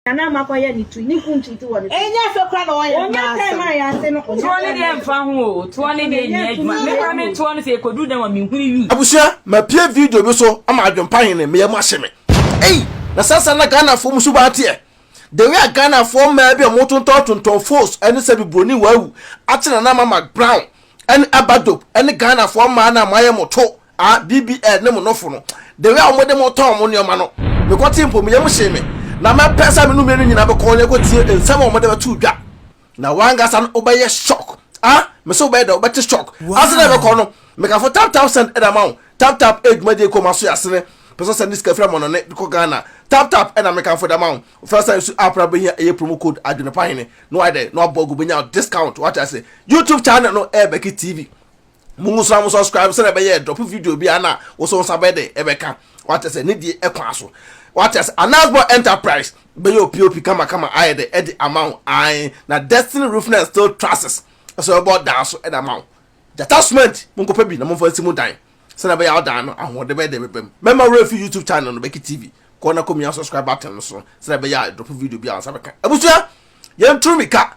na na ama kɔyɛ ne tu ne gu ntwiti wɔ ne so. Ɛnyɛ fɛ kora na ɔyɛ ɔnyɛ time a yɛase no toɔ ne deɛ mfa ho o toɔ ne deɛ nyɛ adwuma me kora me toɔ no sɛ ɛkɔduru dɛm a menhunu wi. Abusua mapie video bi so ama adwempa hene me yam ahye me ei na saa saa na Ghana foɔ mu suban teɛ the way a Ghana foɔ mmaa bi a ɔmo tontɔn tontɔn foes ɛne sɛbi broni wawu akye nana mama brown ɛne aba dope ɛne Ghana foɔ mmaa no a moayɛ mo to Ah BBL ne mo nofo no the way a wɔde mo tɔɔ mo nneɛma no mekɔ tee mpo me yam hyee me na mɛpɛ sɛ me no mmienu nyinaa bɛkɔ na yɛkɔ tie nsɛm a wɔde bɛtoo dwa na wankasa no wobɛyɛ shock ah mese wobɛyɛ dɛ wobɛte shock ase na ɛbɛkɔ no mekafo tap tap send ɛna ma wo tap tap eh dwumadie kɔ ma so yɛ asene pɛ sɛ sɛnde sika fira mɔnɔne de kɔ Ghana tap tap ɛna mekamfo da ma wo wofɛ sɛ nso app na bɛhia ɛyɛ promo code adwene pa hene na wayɛ dɛ na wabɔ agu bɛnya discount wate ase YouTube channel no ɛyɛ Becky TV mo mu sra mo subscribe sɛ ɛbɛyɛ drop video bi ana wo so nsa bɛyɛ dɛ ɛbɛka wate sɛ ne die ɛkwan so wate sɛ anasbɔ enterprise bɛyɛ opiopi kama kama ayɛ dɛ ɛde ama wo ae na destiny roofing and steel trusses ɛsɛ ɛbɔ dan so ɛde ama wo gyata cement mo nkɔpɛ bi na momfa nsi mu dan sɛ ɛbɛyɛ wo dan no ahoɔde bɛyɛ dɛ bɛbam mɛma wura fi youtube channel no bɛki tv kɔ na kɔmia subscribe button no so sɛ ɛbɛyɛ drop video bi a nsa bɛka abusua yɛnturu mika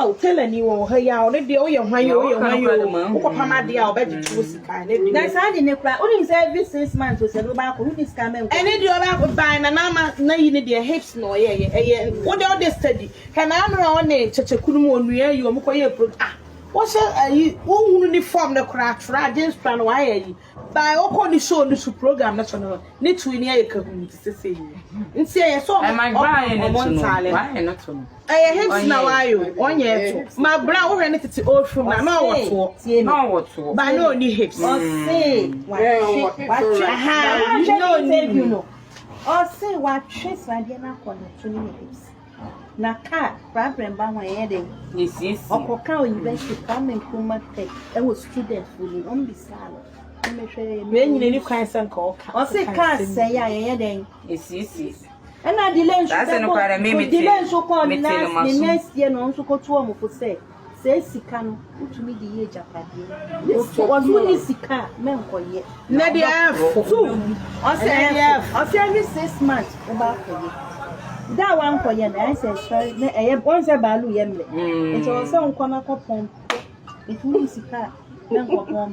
Oh, tailor ni wɔ ha yi a ɔno deɛ woyɛ hwan yi woyɛ hwan yi o wokɔpam adeɛ a ɔbɛgye to sika ne deɛ na saa de ne kura wonim sɛ every six months o sɛ no baako woni sika mɛ nkɔ ɛne deɛ ɔbaako ban na naama na yi ne deɛ hips na ɔyɛ yɛ ɛyɛ wode ɔde study hwɛ na ano a ɔne kyɛkyɛkunu mu onua yi ɔmo kɔ yɛ pro ah wɔhyɛ ayi wohunu ne fam no koraa atwerɛ agye nsora no wayɛ yi By ɔkɔ ne show no so program no so no ne to ani ayɛ kahuu te sɛ sei nti ɛyɛ sɛ ɔmo ɔmo ntaale no ɛyɛ hint na waayɛ o ɔnyɛ ɛto ma bra wohwɛ ne tete old film na na ɔwɔ toɔ ba na ɔni hips aha na ɔni mu ɔse watwe sradeɛ no akɔ ne to ne ne hips. Na kaa problem ba wɔn yɛ dɛ. Ɔkɔ kaa university Kwame Nkrumah Tech ɛwɔ student fo mu wɔn bisaa no. Wei nyina ni kwan sɛ nka ɔka. Ɔsi kaa sɛ yɛ a yɛyɛ dɛ. Esiesie. Ɛna delay nso bɛkɔ delay nso kɔ ne next year na ɔnso kɔ to wɔn fo sɛ. Saa sika no, wotumi de yɛ agyapadeɛ. Wɔtu ɔno ne sika a, mɛnkɔyɛ. Na deɛ ɛfo. Tu. Ɔsɛ ɛfo. Ɔsɛ every six months wobɛ akɔyɛ. Da a wankɔyɛ no, ayɛ sɛ ɛsɔre na ɛyɛ wɔn sɛ baalu yɛ mmerɛ. Nti ɔsɛ nkɔ na kɔ pɔn. Nti wonni sika a, mɛnkɔ pɔn.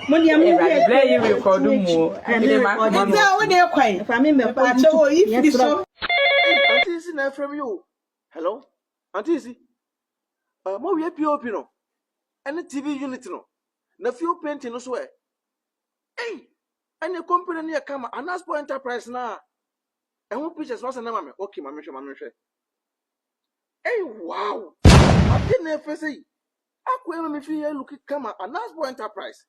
Awurade blɛ yi rekɔdo mu o. Ɛne rekɔdo mu. Ɛfɛ wo de kwan. Ɛfɛ ame mɛ kɔ YouTube. Ɛfɛ yi firi so. Auntie Isi na ɛfrɛ mi o. Hello, Auntie Isi. Uh, mo wie POP no. Ɛne TV unit no. Na fuel painting no so ɛ. Ei, ɛne company no yɛ kama. Anaspo Enterprise na. Ɛho pictures wasa na ma me. Okay, ma me hwɛ, ma me hwɛ. Ei, wow. Ate na ɛfɛ sɛ yi. Akwa ema me fi yɛ look kama anas boy enterprise.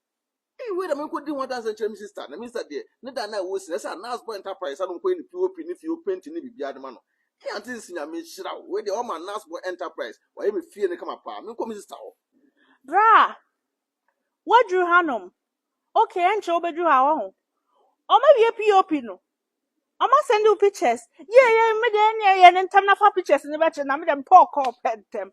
Ee wei da me nkɔ di ho adanse nkyerɛ me sister na me sister deɛ ne da na ɛwɔ si na ɛsɛ anas boy enterprise ano nkɔ yɛ ne pop ne fie openti ne biribiara de ma no. Ee aunty nsi nyame nhyira wo wei deɛ wama anas boy enterprise wayɛ me fie no kama paa me nkɔ me sister hɔ. Braa! Woaduru hanom? Ok, ɛnkyɛ wobɛduru ha, wahu. Wɔawie POP no? Wɔasɛnde wo pictures? Yie, yie, me deɛ ɛnneɛ yɛ no ntɛm na fa pictures no bɛkyerɛ na me deɛ mepɛ ɔkɔɔ pɛ ntɛm.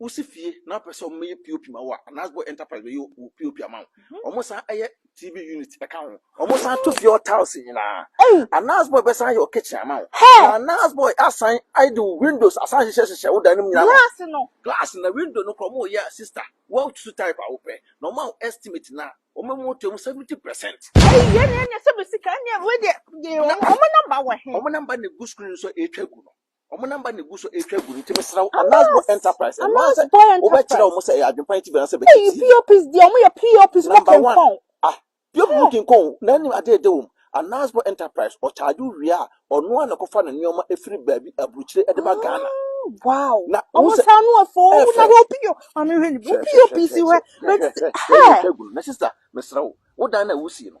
Wosi fie na wopɛ sɛ wɔyɛ POP ma wo a, anaa wobɔ enterprise bɛyɛ wo POP ama wo. Mhm. Wɔsan yɛ TV unit ka ho. Wɔsan to fie hɔ tiles nyinaa. Anaa wobɔ bɛsan yɛ wo kitchen ama wo. Na anaa wobɔ asan de wo windows asan hyehyɛ hyehyɛ wo dan no mu nyinaa. Glass no. Glass na window no kora wɔyɛ a sister. Wɔatu type a wopɛ. Na wɔma wo estimate na wɔma mu to mu 70%. Ɛyi yɛ ne ɛnyɛ sɛ bɛ sika ne ɛmu deɛ. Wɔn namba wɔ he? Wɔn namba na egu screen so a ɛretwa gu no. Wɔn namba na egu so retwa gu no nti mesrɛ wo Anasbo Enterprise ɛno ara sɛ wobɛkyerɛ wɔn sɛ ɛyɛ adwempa nti bɛn sɛ bɛkyɛ tii. Ɛyi POPs deɛ wɔn yɛ POPs mo kinkɔn. Ah POP mo kinkɔn na anim adeɛ de wɔn. Anasbo Enterprise ɔcharge wo wie a ɔno ara na ɛkɔfa ne nneɛma efiri baabi aburukyire de ba Ghana. Wow. Na wɔn sɛ saa no afo wo na hwɛ POP maame hwɛ ni POPs hwɛ. Hwɛ hwɛ hwɛ yɛ retwa gu no na sister mesrɛ wo wo dan na wusie no.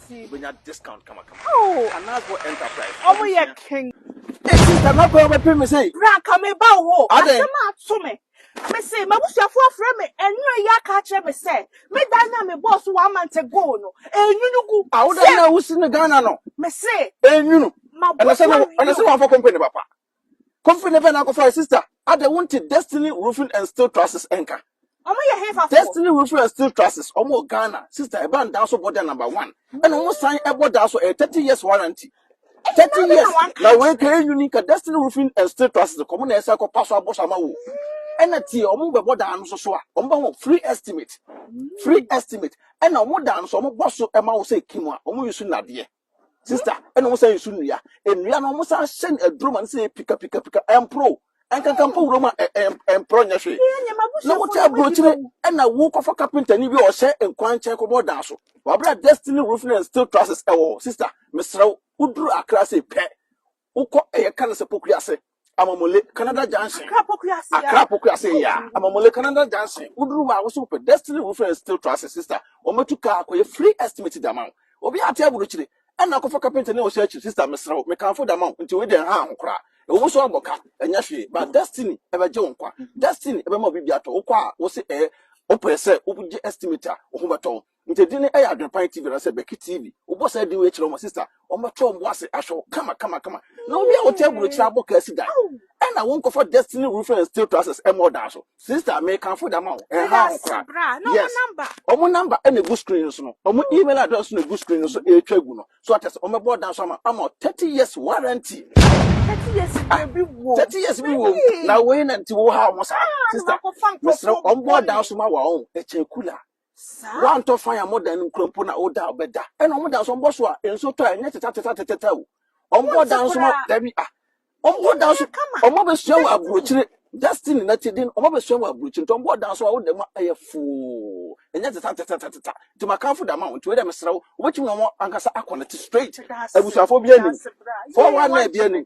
Wobɛnya discount kamakama. Oh. Anasbo Enterprise. Ɔmo yɛ king. Esi dama pɛ ɔbɛpɛ mi sɛ. Bra nka mi ba wo hɔ. Ade. Asɛm a ato mi. Mi se m'abusuafo afrɛ mi ɛnura yi aka akyerɛ mi sɛ mi dan na mi bɔɔ so one month ago no enyunu gu. Awoda na wusi no Ghana no. Mi se. Enyunu. Ɛna sɛ na ɛna sɛ wɔn afɔ company papa. Kofi ne Verna kɔfae sister. Ada wonte Destiny Roofing and Steel Trusses nka? Ɔmo yɛ hefafoɔ? Destiny Roofing and Steel Trusses, ɔmo wɔ Ghana. Sister, ɛba no daa so bɔ da number one. Ɛna ɔmo san ɛbɔ daa so, ɛyɛ thirty years warranty. Thirty years, na wei ka ɛnyini ka Destiny Roofing and Steel Trusses, kɔmo na ɛsɛ kɔpa so abɔ so ama wo. Ɛna tie, ɔmo bɛbɔ daa no so so a, ɔmo bɛma wo free estimate. Free estimate. Ɛna ɔmo daa no so, ɔmo bɔ so ɛma wo sɛ kim a, ɔmo use nnadeɛ. Sister, ɛna wɔn san nsu nnua. Nnua no wɔn san hyɛ no aduro ma no sɛ pika pika pika ɛmporo. Ɛnkanka mpo wuram a ɛmporo nyɛ hwee. Na wote aburokyire ɛna wokɔfa kapentani bi a ɔhyɛ nkwankyɛn kɔbɔ dan so. Wabra Destiny Roofing and Steel Trusses ɛwɔ hɔ. Sister, mesrɛ wo, woduru Accra sei pɛ, Wokɔ ɛyɛ ka no sɛ Pokuase, Amamule, Canada Junction. Accra Pokuase yeah. Accra Pokuase yeah. Amamule, Canada Junction. Woduru hɔ a wosɛ wopɛ Destiny Roofing and Steel Trusses sister. Wɔbɛtu kaa akɔyɛ free estimate de ama wo. Obi ate aburukyire ɛna akɔfa kapenta ne ɔhyɛ akyiri sister mesrɛ wo mekamfo de ama wo nti wei deɛ ɛha ho koraa. Ɛwɔ mu so abɔ ka ɛnyɛ hwee but Destiny ɛbɛgye wo nkwa. Destiny ɛbɛma obi bi atɔ wokɔ a wose ɛɛ wopɛ sɛ wogye estimate a wo ho bɛtɔ wo. Nti edin no yɛ Adwenpan TV anaasɛ Bɛki TV. Wobɔ saa din wei kyerɛ wɔn a, sista, wɔbɛto wɔn bo ase ahwɛ wo kama kama kama. Na obi a wote aburokyiri abɔ kaa si dan, ɛna wonkɔfa Destiny Roofing and Steel Trusses mmɔ ɔdan so. Sista, mekamfo de ama wo, ɛnhaw ho koraa. Yes, wɔn number na egu screen no so no, wɔn email address nso na egu screen no so ɛretwa agu no. So ate ase, wɔbɛbɔ ɔdan so ama ama wo thirty years warranty. Thirty years bi wɔ bi wɔ. Thirty years bi wɔ mu. Na wei na nti wohaw ho saa. Sista, mesrɛ wo, wɔbɔ ɔdan so ma wo a, wɔn ɛkyɛn kula. Woantɔ fan a modan no nkura mpo na woda a wobɛda. Ɛna wɔn da so wɔbɔ so a nsuo tɔ a ɛnyɛ tetatatatata o. Wɔbɔ da nso ma dabi a. Wɔbɔ da nso wɔn abɛsua wɔ aburokyire destiny na ti den wɔn abɛsua wɔ aburokyire nti wɔbɔ da nso a woda mu a ɛyɛ foo ɛnyɛ tetatatatata nti makanfo da ma wɔn nti wei dɛ mesrɛ wo wobɛtumi na wɔn ankasa akɔ ne te straight abusuafoɔ bi anim fɔwa na ebi anim.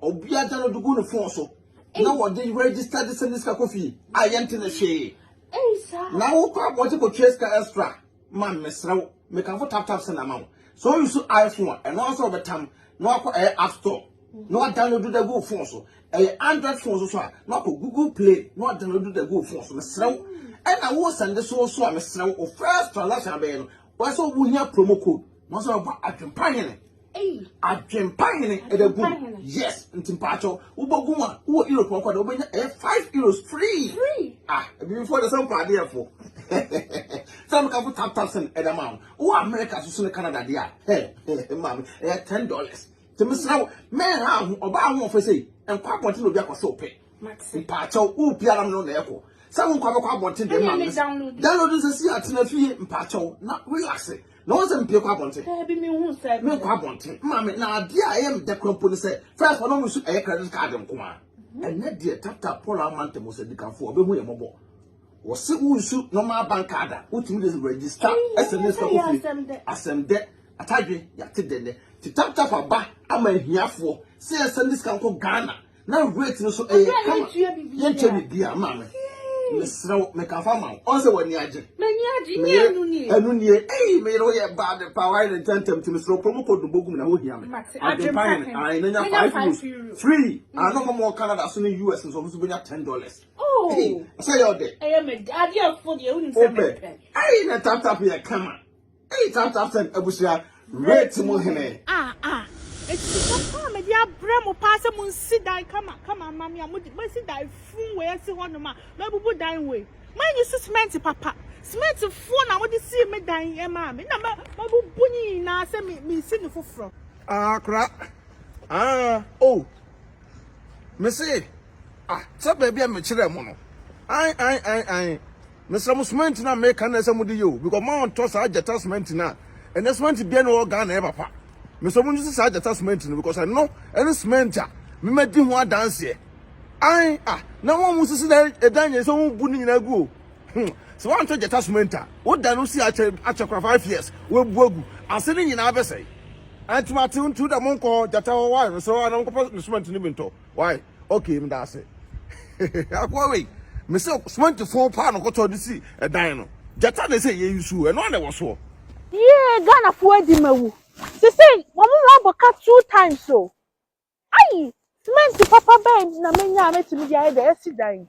Obia gya no de gu ne phone so na wɔde register de send sika kɔ fie a yɛnte ne hwee. Na wokɔ abɔnten kɔtua sika extra ma mesrɛ wo mekamfo tap tap send ama wo. Sɛ wo use iPhone a ɛno ara nso wɔbɛtam na wakɔ ɛyɛ app store na wadownload de agu wo phone so. Ɛyɛ Android phone nso so a na wakɔ Google Play na wadownload de agu wo phone so. Mesrɛ wo ɛna wo send so nso a mesrɛ wo wo first transaction abɛyɛ no wɔyɛ sɛ wohia promo code. Mo sɛ ɔba adwempa hene. Adwempa hene ɛdɛ gu. Yes, nti mpakyɛw wobɛgu mu a wowɔ Europe ɔkɔ dɛ wobɛnya ɛyɛ five euros free. Ah, ebibifoɔ de sɛ mpɛ adeɛ fo. Sɛ meka fo tap tap sɛn ɛdɛ ma wo. Wowɔ America so so ne Canada deɛ a, hɛ, maame, ɛyɛ ten dollars. Nti mesrɛ wo, mɛn ha ho, ɔbaa ahoɔfɛ sei, nkɔ abɔnten na obi akɔsɛ wo pɛ. Mpakyɛw, wo biara no na ɛkɔ. Sɛ wo nkɔ abɛkɔ abɔnten deɛ maame, download nsɛsi atena fie mpakyɛw na relax. Na wɔn sɛ mpie kɔ abɔnten. Daabi mi hu sɛ. Mi nkɔ abɔnten. Maame na adeɛ a ɛyɛ mi dɛ kura mpo ne sɛ first wɔn mu nso ɛyɛ credit card nko ara. Ɛnɛ deɛ tata Paul ama ntɛm wɔ sɛdikanfoɔ ɔbɛhu yɛ mɔbɔ. Wɔsi wo nsu normal bank card a wotumi de register ɛsɛ ne sika kofie. Asɛm dɛ atadwe yate dɛ nɛ ti tap tap aba ama ahiafoɔ sɛ yɛsɛ ne sika nkɔ Ghana. na rate no so ɛyɛ kama yɛnkyɛ biribiara maa me mesrɛ wo meka fa ma wo ɔn sɛ w'ani agye m'ani agye ne ɛnu nie ɛnu nie ei meyere wo yɛ bad paa wayɛ ne ntɛntɛm ti mesrɛ wo pɛ mu kɔ dumbo gum na ho hia me adwempa yɛ ae na nya five euros free ano ma mɔ canada so ne us nso ɔmo so bɛnya ten dollars oh. sɛ yɛ ɔdɛ ɛyɛ mɛ adeɛ fo deɛ wonim sɛ mɛpɛ ei na tap tap yɛ kama Eii tap tap send abusua rate mu hene. Ah ah ɛsi pa pa a mede abrɛ mo paa sɛ mo nsi dan kama kama mma me a mo de mo asi dan fun wei asi hɔ nom a mabubu dan wei mo anyi so cement papa cement foɔ na mo de sii me dan yi ɛmaa me na ma mabubu ne nyinaa sɛ me me si ne foforɔ. Ah kora ah oh me se ah sɛ baabi a me kyerɛ mo no ae ae ae ae Mesrɛ mo cement no a meka no na ɛsɛ mode yɛ o because mo a ɔntɔ saa gyata cement no a ɛnɛ cement biara ni wɔ hɔ Ghana ɛyɛ papa. Mesrɛ mo nuse saa gyata cement no because ɛno ɛne cement a me madi ho adanseɛ. Ae ah na wɔn a wɔn sisi dan ɛdan yɛ sɛ wɔn bu ne nyinaa gu o. Hmm sɛ wɔn antɔ gyata cement a wo da no si akyɛ akyɛ kora five years wɔn bu agu ase ne nyinaa bɛsɛe. Ɛntoma te ntu da mo nkɔ gyata hɔ wa mesrɛ wɔn a na wɔn kɔpɛ cement no bi ntɔ. Wai okay meda ase. Akoa wei me se cement fo paa no kɔtɔ de si ɛdan no. Gyata na ɛsɛ yɛyi suo ɛno a na ɛwɔ soɔ. Yee Ghana foɔ adi ma wu sesei wɔn ho abɔ ka two times o ayi cement papa bɛn na menya a mɛtumi de ayɛ deɛ yɛsi dan yi.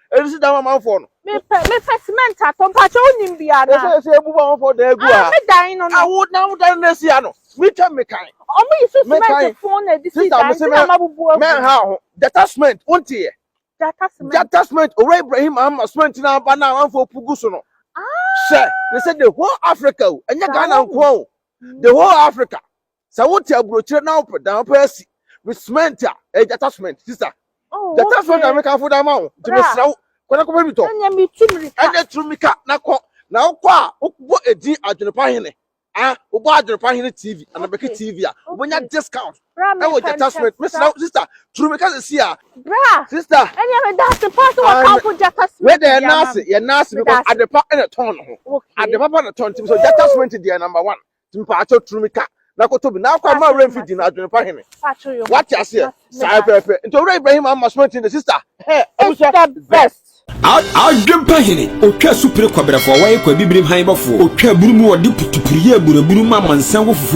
Ɛnu si dan amanfoɔ no. Mepɛ mepɛ cement atɔ mpakyɛ wonim bi ana. Ɛsɛ ɛsɛ ebu ba amanfoɔ dan egu ha. Me dan no no. Awo na awo dan no esi ha no. Me twɛ me kan. Ɔmo yi so cement fon na edisi dan ti na ma bubu agu. Mɛ ha ho jata cement wonti yɛ. Jata cement. Jata cement owura Ibrahim ama cement na aba na amanfoɔ pugu so no. Hyɛ ne sɛ the whole Africa o ɛnyɛ Ghana nkoa o the whole Africa. sɛ wote aburokyire na wopɛ dan wopɛ asi me cement a ɛyɛ gyata cement sista oh, gyata cement a mekamfo da ma wo nti mesrɛ wo kɔda kɔpɛ mi tɔ ɛnyɛ turu mika na kɔ na wokɔ a wobɔ edin adwenepa hene a wobɔ adwenepa hene tv anabɛke tv a wobɛnya discount ɛwɔ gyata cement mesrɛ wo sista turu mika sɛ si a sista ɛnyɛ meda ase pa sɛ wɔkamfo gyata cement yɛ naase yɛ naase because adepa ɛna tɔn no ho adepa pa na tɔn nti mesɛ gyata cement deɛ number one mpatsɔ turu mi ka na koto bi na akɔ ama awura mfi di na adwene pa hene wate aseɛ saa pɛpɛ nti owura ibrahim ama sumati ne sista hɛ amusua best adwene pa hene otwa supire kɔbrɛfoɔ wɔyɛ kɔ abibirim han bɔfoɔ otwa aburu mu ɔde putupuru yɛ aburaburu ma amansan wɔ fufuo